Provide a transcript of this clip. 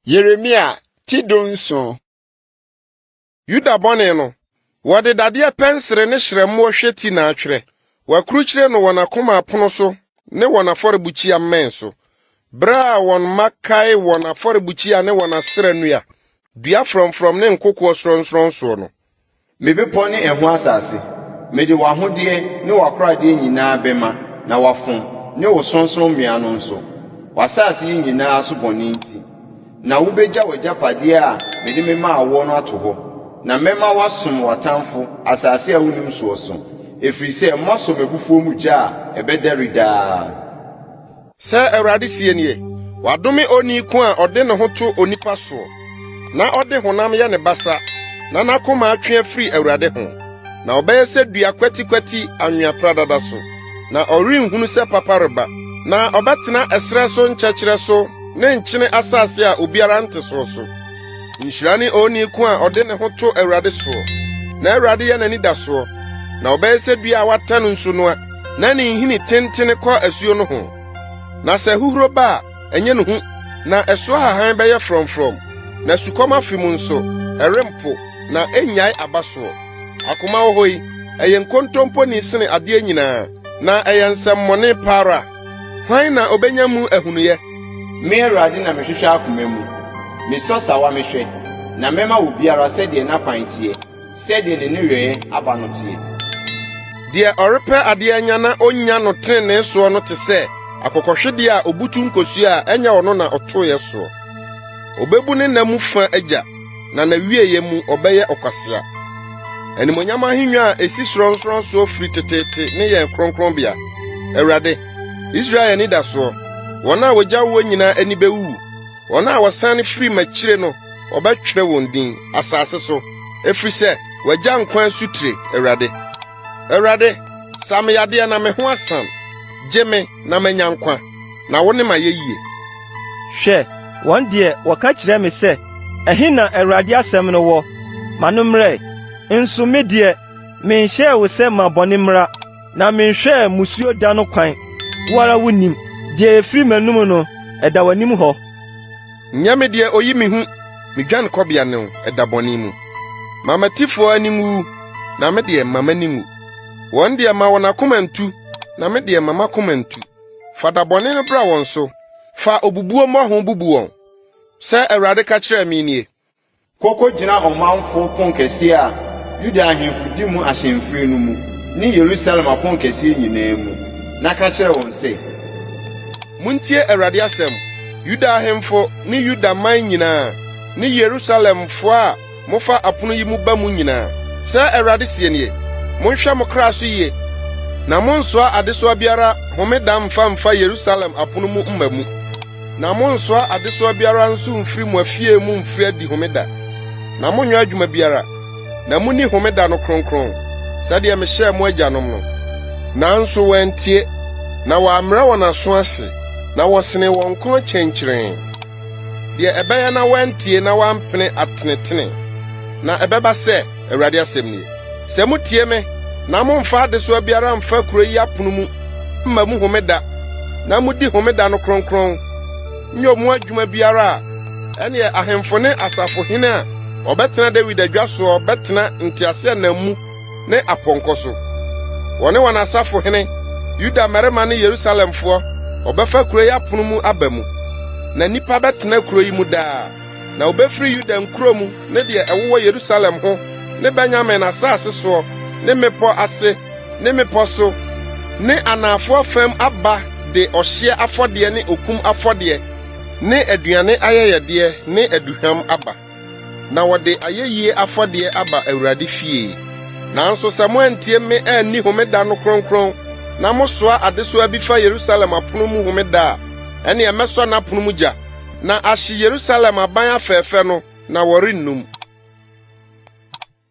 Yeremia ti dunson Yuda bɔne no, wɔde dadeɛ pɛnsere ne hyerɛmmoɔ hweti na atwerɛ. Wɔakrukyire no wɔn akoma apono so ne wɔn afɔrebukyia mmɛn so. Berɛ a wɔn mma kae wɔn afɔrebukyia ne wɔn asera nnua, dua frɔmfrɔm ne nkokoɔ sorɔnsorɔn soɔ no, Me bepɔ ne ɛho asase, mede w'ahodeɛ ne w'akoradeɛ nyinaa bɛma na wɔafom, ne wo sorɔnsorɔmmea no nso, w'asase yi nyinaa so bɔne nti. Na wobɛgya w'agyapadeɛ a mede memaa woɔ no ato hɔ, na mɛma woasom w'atamfo asase a wonnim soɔ so, ɛfiri sɛ moasɔ m'abufuo mu gya a ɛbɛdɛre daa. Sɛ Awurade sie nie, wadome onii ko a ɔde ne ho to onipa soɔ, na ɔde honam yɛ ne basa, na n'akoma atwe afiri Awurade ho, na ɔbɛyɛ sɛ dua kwatikwati anwea pradada so, na ɔrenhunu sɛ papa reba. Na ɔbɛtena ɛserɛ so nkyɛkyerɛ so ne nkyene asase a obiara nte soɔ so. Nhyira ne onii ko a ɔde ne ho to Awurade soɔ, na Awurade yɛ n'anidasoɔ, na ɔbɛyɛ sɛ dua a wɔatɛ no nsu noa, na ne nhini tentene kɔ asuo no ho. Na sɛ ahuhuro ba a, ɛnyɛ no hu, na ɛso ahahan bɛyɛ frɔmfrɔm, na sukɔm afe mu nso, ɛrempo, na ɛrennyae aba soɔ. Akoma wɔ hɔ yi, ɛyɛ nkontompo ni sene adeɛ nyinaa, na ɛyɛ nsɛmmɔne pa ara. Hwan na obenya mu ahunuye? Me, Awurade, na mehwehwɛ akoma mu, Mesɔ sawa mehwɛ, na mɛma obiara sɛdeɛ n'akwan teɛ, Sɛdeɛ ne nneyɔeɛ aba no teɛ. Deɛ ɔrepɛ adeɛ anya na ɔnnya no tenenee soɔ no te sɛ akokɔhwedeɛ a ɔbutu nkosua a ɛnyɛ ɔno na ɔtoeɛ soɔ. Ɔbɛbu ne nna mu fã agya. na n'awieeɛ mu ɔbɛyɛ ɔkwasea. Animonyam ahengua a esi sorɔnsorɔnsoɔ firi teteete ne yɛn kronkronbea. Awurade, Israel anidasoɔ, wɔn a wɔgyaw wɔn nyinaa ani bɛwuwu. Wɔn a wɔsan firi m'akyire no, wɔbɛtwerɛ wɔn din asase so, ɛfiri sɛ wɔagya nkwa asutire, Awurade. Awurade, sa me yadeɛ na me ho asan, gye me na manya nkwa, na wo ne m'ayɛyie. Hwɛ, wɔn deɛ wɔka kyerɛ me sɛ, 'Ɛhe na Awurade asɛm no wɔ? Ma no mmra ɛ! Nso me deɛ, menhyɛɛ wo sɛ ma bɔne mmra, na menhwɛɛ mmusuo da no kwan. Wo ara wunim. Deɛ ɛfiri m'anom no, ɛda w'anim hɔ. Nyɛ me deɛ ɔyi me hu, me dwanekɔbea ne wo ɛda bɔne mu. Ma m'atifoɔ ani nwu, na me deɛ, mma m'ani nwu. Wɔn deɛ, ma wɔn akoma ntu, na me deɛ, mma m'akoma ntu. Fa da bɔne no bra wɔn so, fa obubuo mmɔho bubu wɔn, sɛ Awurade ka kyerɛɛ me nie. Kɔ kogyina ɔmanfo ponkɛseɛ a Yuda ahemfo di mu ahyɛmfiri no mu ne Yerusalem aponkɛseɛ nyinaa mu, na ka kyerɛ wɔn sɛ. Montie Awurade asɛm, Yuda ahemfo ne Yuda man nyinaa ne Yerusalemfoɔ a mofa apono yi mu ba mu nyinaa. Sɛɛ Awurade seɛ nie, 'Monhwɛ mo kra so yie, na monnsoa adesoa biara homeda mfa mfa Yerusalem apono mu mma mu. Na monnsoa adesoa biara nso mfiri mo afie mu mfiri adi Homeda, na monnyɛ adwuma biara, na munni Homeda no kronkron, sɛdeɛ mehyɛɛ mo agyanom no. Nanso wɔantie, na wɔammrɛ wɔn aso ase, na wɔsenee wɔn kɔn kyɛnkyerɛnn, deɛ ɛbɛyɛ na wɔantie na wɔampene atenetene. Na ɛbɛba sɛ. Awurade asɛm ni. Sɛ mutie me na momfa adesoa biara mfa kurow yi apono mu mma mu homeda na mudi homeda no kronkron, nyɛ ɔmo adwuma biara a, ɛneɛ ahemfo ne asafohene a wɔbɛtena Dawid adwa soɔ bɛtena nteaseɛnam mu ne apɔnkɔ so, wɔne wɔn asafohene, Yuda mmarima ne Yerusalemfoɔ, wɔbɛfa kurow yi apono mu aba mu, na nnipa bɛtena kurow yi mu daa. Na wobefiri Yuda nkurow mu ne deɛ ɛwowɔ Yerusalem ho ne Benyamin asase soɔ ne mmepɔ ase ne mmepɔ so ne anaafoɔ fam aba de ɔhyeɛ afɔdeɛ ne okum afɔdeɛ ne aduane ayɛyɛdeɛ ne aduhwam aba, na wɔde ayɛyie afɔdeɛ aba Awurade fie. Nanso sɛ moantie me anni homeda no kronkron na mosoa adesoa bi fa Yerusalem apono mu homeda a, ɛnneɛ mɛsɔ n'apono mu gya na ahye Yerusalem aban afɛɛfɛ no, na wɔrennum.